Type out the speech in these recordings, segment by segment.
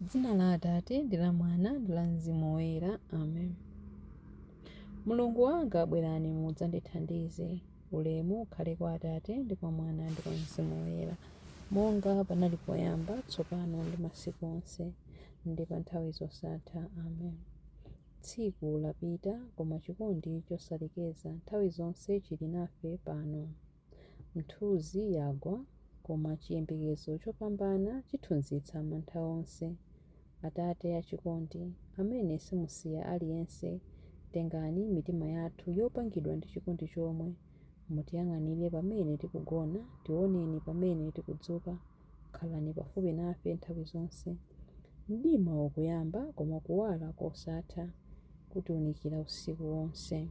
M'dzina la Atate, ndi la Mwana, ndi la Mzimu Woyera. Amen. Mulungu wanga, bwerani mudzandithandize. Ulemu ukhale kwa Atate, ndi kwa Mwana, ndi kwa Mzimu Woyera, monga panali poyamba, tsopano, ndi masiku onse, ndi pa nthawi zosatha. Amen. Tsiku lapita, koma chikondi chosalekeza nthawi zonse chili nafe pano. Mithunzi yagwa, koma chiyembekezo chopambana chithunzitsa mantha onse. Atate achikondi, amene simusiya aliyense, tengani mitima yathu yopangidwa ndi chikondi chomwe, mutiyang'anire pamene tikugona, tioneni pamene tikudzuka. Khalani pafupi nafe nthawi zonse. Mdima ukuyamba, koma kuwala kosatha kutiunikira usiku wonse.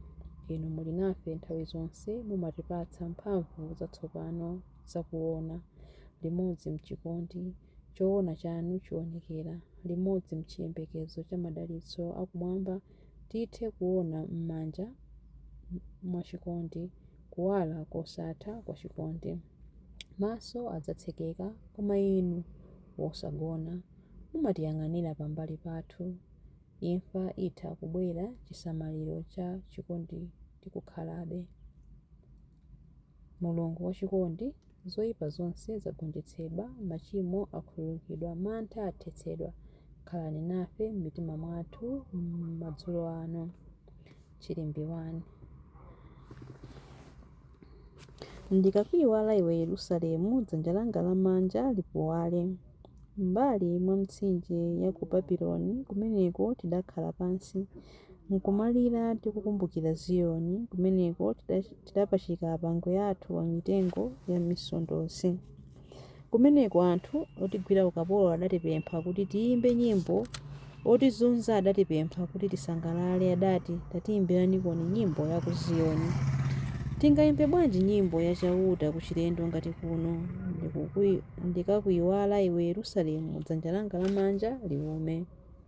Inu muli nafe nthawi zonse, mumatipatsa mphamvu zatsopano za kuona. Limodzi m'chikondi, choona chanu chionekera. Limodzi m'chiyembekezo cha madalitso akumwamba, tithe kuona m'manja mwa chikondi kuwala kosatha kwa chikondi. Maso adzatsekeka, koma Inu, wosagona, mumatiyang'anira pambali pathu. Imfa itha kubwera, chisamaliro cha chikondi tikukhalabe. Mulungu wa chikondi, zoipa zonse zagonjetsedwa, machimo akhululukidwa, mantha athetsedwa, khalani nafe m'mitima mwathu madzulo ano. Chilimbi 1 Ndikakuiwala iwe Yerusalemu, dzanja langa lamanja lipuwale. M'mbali mwa mitsinje ya ku Babiloni, kumeneko tidakhala pansi, nkumalira tikukumbukira Ziyoni, kumeneko tidapachika apangwe athu pa mitengo ya misondozi. Kumeneko anthu otigwira ukapolo adatipempha kuti tiimbe nyimbo. Otizunza adatipempha kuti tisangalale, adati, Tatiimbiranikoni nyimbo ya ku Ziyoni. Tingaimbe bwanji nyimbo ya Chauta kuchilendo ngati kuno? Ndikakuiwala iwe Yerusalemu, dzanja langa lamanja liume.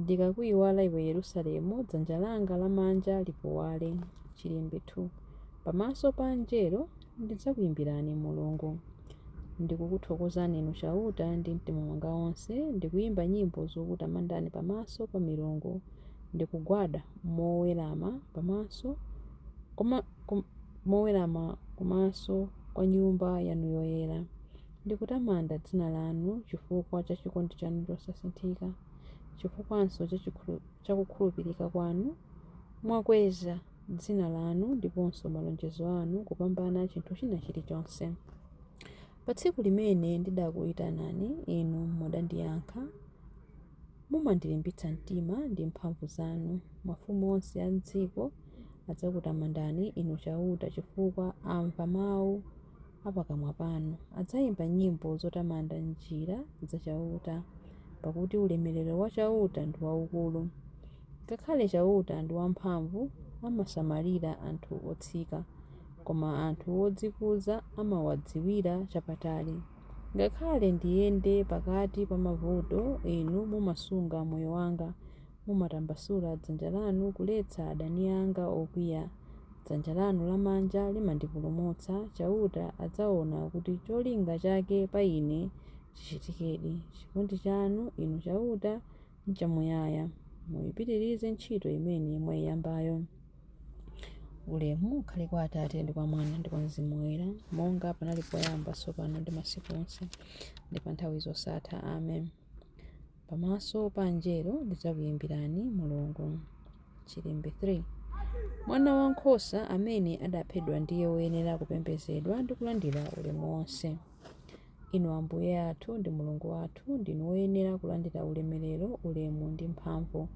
Ndikakuiwala iwe Yerusalemu, dzanja langa lamanja lipuwale. Chilimbi 2. Pamaso pa angelo ndidzakuimbirani Mulungu. Ndikukuthokozani Inu Chauta ndi mtima wanga wonse, ndikuimba nyimbo zokutamandani pamaso pa milungu. Ndikugwada mowerama kumaso kwa Nyumba yanu yoyera. Ndikutamanda dzina lanu chifukwa cha chikondi chanu chosasinthika, chifukwanso cha kukhulupirika kwanu. Mwakweza dzina lanu ndiponso malonjezo anu kupambana chinthu china chilichonse. Pa tsiku limene ndidakuitanani, Inu mudandiyankha. Mumandilimbitsa mtima ndi mphamvu zanu. Mafumu onse a m'dziko adzakutamandani, Inu Chauta, chifukwa amva mau a pakamwa panu adzayimba nyimbo zotamanda njira za Chauta, pakuti ulemerero wa Chauta ndi waukulu. Ngakhale Chauta ndi wamphamvu, amasamalira anthu otsika, koma anthu odzikuza amawadziwira chapatali. Ngakhale ndiyende pakati pa mavuto, Inu mumasunga moyo wanga, mumatambasula dzanja lanu kuletsa adani anga okwiya, dzanja lanu lamanja limandipulumutsa, Chauta adzaona kuti cholinga chake pa ine chichitikedi. Chikondi chanu, Inu Chauta, nchamuyaya, muipitirize ntchito imene mwaiyambayo. Ulemu ukhale kwa Atate, ndi kwa Mwana, ndi kwa Mzimu Woyera, monga panali poyamba, tsopano ndi masiku onse, ndi pa nthawi zosatha. Amen. Pamaso pa angelo ndidzakuyimbirani Mulungu. Chilimbi 3. Mwana wa nkhosa amene adaphedwa ndiye woyenera kupembedzedwa ndi kulandira ulemu wonse. Inu Ambuye athu ndi Mulungu wathu ndinu woyenera kulandira ulemerero, ulemu ndi mphamvu.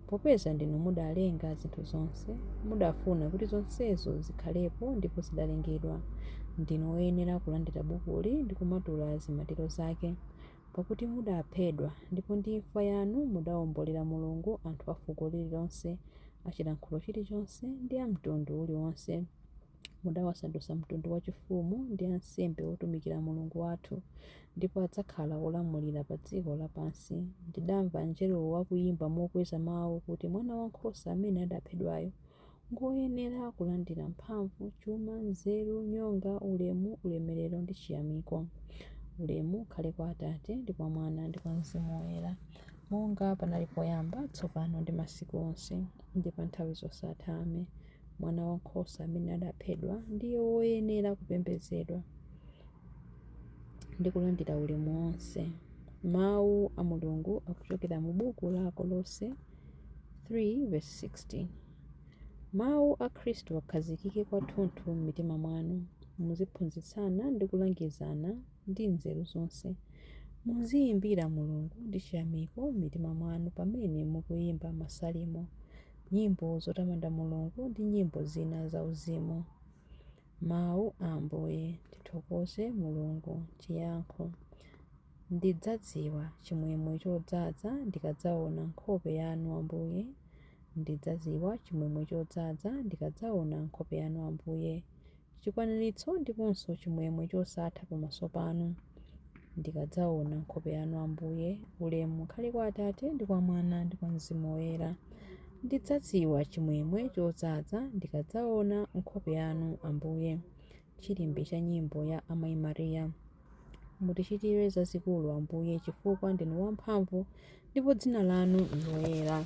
Popeza ndinu mudalenga zinthu zonse, mudafuna kuti zonsezo zikhalepo ndipo zidalengedwa. Ndinu woyenera kulandira bukuli ndi kumatula zimatiro zake. Pakuti mudaphedwa, ndipo ndi imfa yanu mudaombolera Mulungu anthu a fuko lililonse, a chilankhulo chilichonse, ndi a mtundu uliwonse. Mudawasandutsa mtundu wachifumu ndi ansembe otumikira Mulungu wathu, ndipo adzakhala olamulira pa dziko lapansi. Ndidamva angelowo akuyimba mokweza mau kuti, Mwanawankhosa amene adaphedwayo! Ngoyenera kulandira mphamvu, chuma, nzeru, nyonga, ulemu, ulemerero ndi chiyamiko. Ulemu ukhale kwa Atate, ndi kwa Mwana, ndi kwa Mzimu Woyera, monga panali poyamba, tsopano ndi masiku onse, ndi pa nthawi zosatha. Amen. Mwanawankhosa amene adaphedwa ndiye woyenera kupembedzedwa ndi kulandira ulemu wonse. Mawu a Mulungu akuchokera mu buku la Akolose. 3:16 Mawu a Khristu akhazikike kwathunthu m'mitima mwanu, muziphunzitsana ndi kulangizana ndi nzeru zonse. Muziyimbira Mulungu ndi chiyamiko m'mitima mwanu pamene mukuyimba masalimo, nyimbo zotamanda Mulungu ndi nyimbo zina zauzimu. Mawu a Ambuye. Tithokoze Mulungu. Chiyankho. Ndidzadziwa chimwemwe chodzaza ndikadzaona nkhope yanu Ambuye Ndidzadziwa chimwemwe chodzaza ndikadzaona nkhope yanu Ambuye Chikwaniritso ndiponso chimwemwe chosatha pamaso panu Ndikadzaona nkhope yanu Ambuye Ulemu ukhale kwa Atate ndi kwa Mwana ndi kwa Mzimu Woyera Ndidzadziwa chimwemwe chodzaza ndikadzaona nkhope yanu, Ambuye. Chilimbi cha nyimbo ya Amayi Maria. Mutichitire zazikulu, Ambuye, chifukwa ndinu wamphamvu ndipo dzina lanu n'loyera.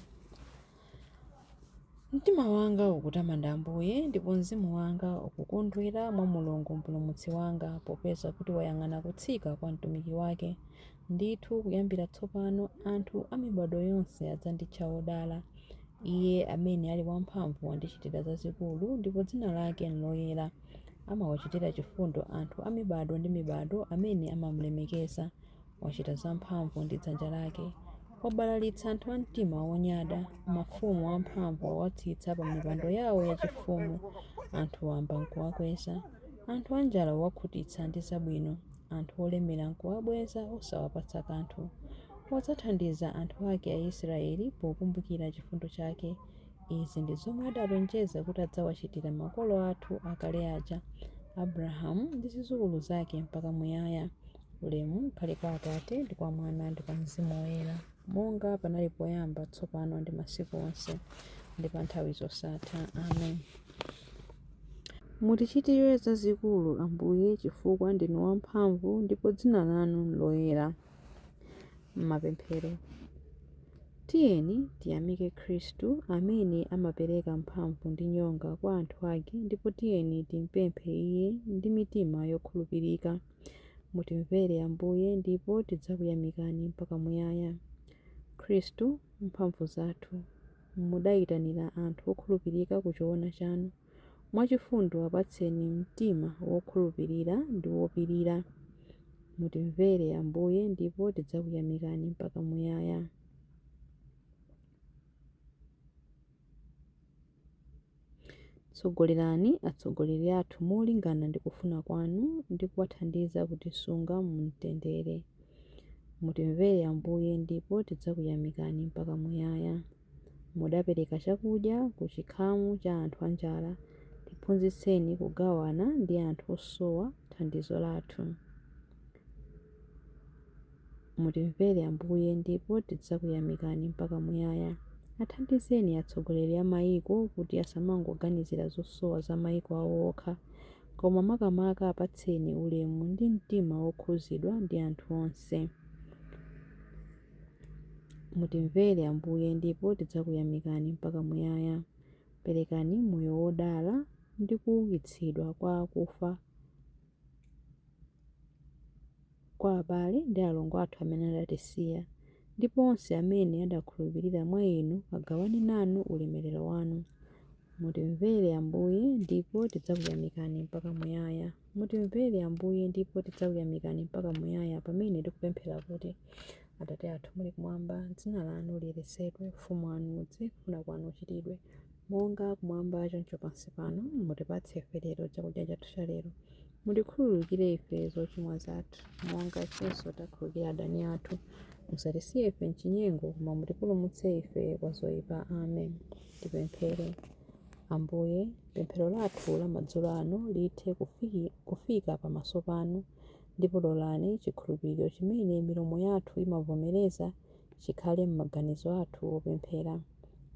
Mtima wanga ukutamanda Ambuye, ndipo mzimu wanga ukukondwera mwa Mulungu Mpulumutsi wanga, popeza kuti wayang'ana kutsika kwa mtumiki wake. Ndithu kuyambira tsopano anthu a mibado yonse adzanditcha wodala. Iye amene ali wamphamvu wandichitira zazikulu ndipo dzina lake n'loyera. Amawachitira chifundo anthu a mibado ndi mibado amene amamulemekeza. Wachita zamphamvu ndi dzanja lake. Wabalalitsa anthu a mtima wonyada. Mafumu amphamvu wawatsitsa pamipando yawo yachifumu. Anthu wamba n'kuwakweza. Anthu anjala wawakhutitsa ndi zabwino. anthu olemera n'kuwabweza osawapatsa kanthu. Wadzathandiza anthu ake Aisiraeli pokumbukira chifundo chake. Izi ndi zomwe adalonjeza kuti adzawachitira makolo athu akale aja, Abrahamu ndi zidzukulu zake mpaka muyaya. Ulemu ukhale kwa Atate ndi kwa Mwana ndi kwa mzimu woyera, monga panali poyamba, tsopano ndi masiku onse, ndi pa nthawi zosatha. Amen. Mutichitire zazikulu, Ambuye, chifukwa ndinu wamphamvu ndipo dzina lanu n'loyera. Mapemphero. Tiyeni tiyamike Khristu amene amapereka mphamvu ndi nyonga kwa anthu ake ndipo tiyeni timpemphe Iye ndi mitima yokhulupirika. Mutimvere, Ambuye, ndipo tidzakuyamikani mpaka muyaya. Khristu, mphamvu zathu. mudayitanira anthu okhulupirika ku choona chanu. Mwachifundo apatseni mtima wokhulupirira ndi wopirira. Mutimvere, Ambuye, ndipo tidzakuyamikani mpaka muyaya. Tsogolerani atsogoleri athu molingana ndi kufuna kwanu ndi kuwathandiza kutisunga mu mtendere. Mutimvere Ambuye ndipo tidzakuyamikani mpaka muyaya. Mudapereka chakudya ku chikhamu cha anthu anjala, tiphunzitseni kugawana ndi anthu osowa thandizo lathu. Mutimvere Ambuye ndipo tidzakuyamikani mpaka muyaya. Athandizeni atsogoleri a maiko kuti asamangoganizira zosowa za maiko awo okha, koma makamaka apatseni ulemu ndi mtima wokhuzidwa ndi anthu onse. Mutimvere Ambuye ndipo tidzakuyamikani mpaka muyaya. Perekani moyo wodala ndi kuukitsidwa kwa akufa. kwa abale ndi alongo athu amene adatisiya, ndipo onse amene adakhulupirira mwa inu agawane nanu ulemerero wanu. Mutimvere, Ambuye, ndipo tidzakuyamikani mpaka muyaya. Mutimvere, Ambuye, ndipo tidzakuyamikani mpaka muyaya pamene tikupemphera kuti, Atate athu muli kumwamba, dzina lanu liyeretsedwe, ufumu wanu udze, kufuna kwanu kuchitidwe, Monga kumwamba choncho pansi pano, mutipatse ife lero chakudya chathu cha lero. Mutikhululukire ife zochimwa zathu, monga ifenso takhululukira adani athu. Musatisiye ife m'chinyengo, koma mutipulumutse ife kwa zoipa. Amen. Tipemphere. Ambuye, pemphero lathu la madzulo ano lithe kufika pamaso panu, ndipo lolani chikhulupiriro chimene milomo yathu imavomereza chikhale m'maganizo athu opemphera.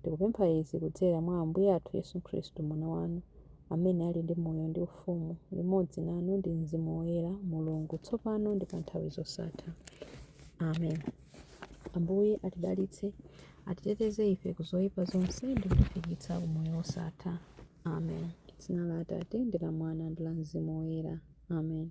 Tikupempha izi kudzera mwa Ambuye athu Yesu Khristu, Mwana wanu, amene ali ndi moyo ndi ufumu limodzi nanu ndi Mzimu Woyera, Mulungu, tsopano ndi pa nthawi zosatha. Amen. Ambuye atidalitse, atiteteze ife ku zoyipa zonse ndi kutifikitsa ku moyo wosatha. Amen. Dzina la Atate ndi la Mwana ndi la Mzimu Woyera. Amen.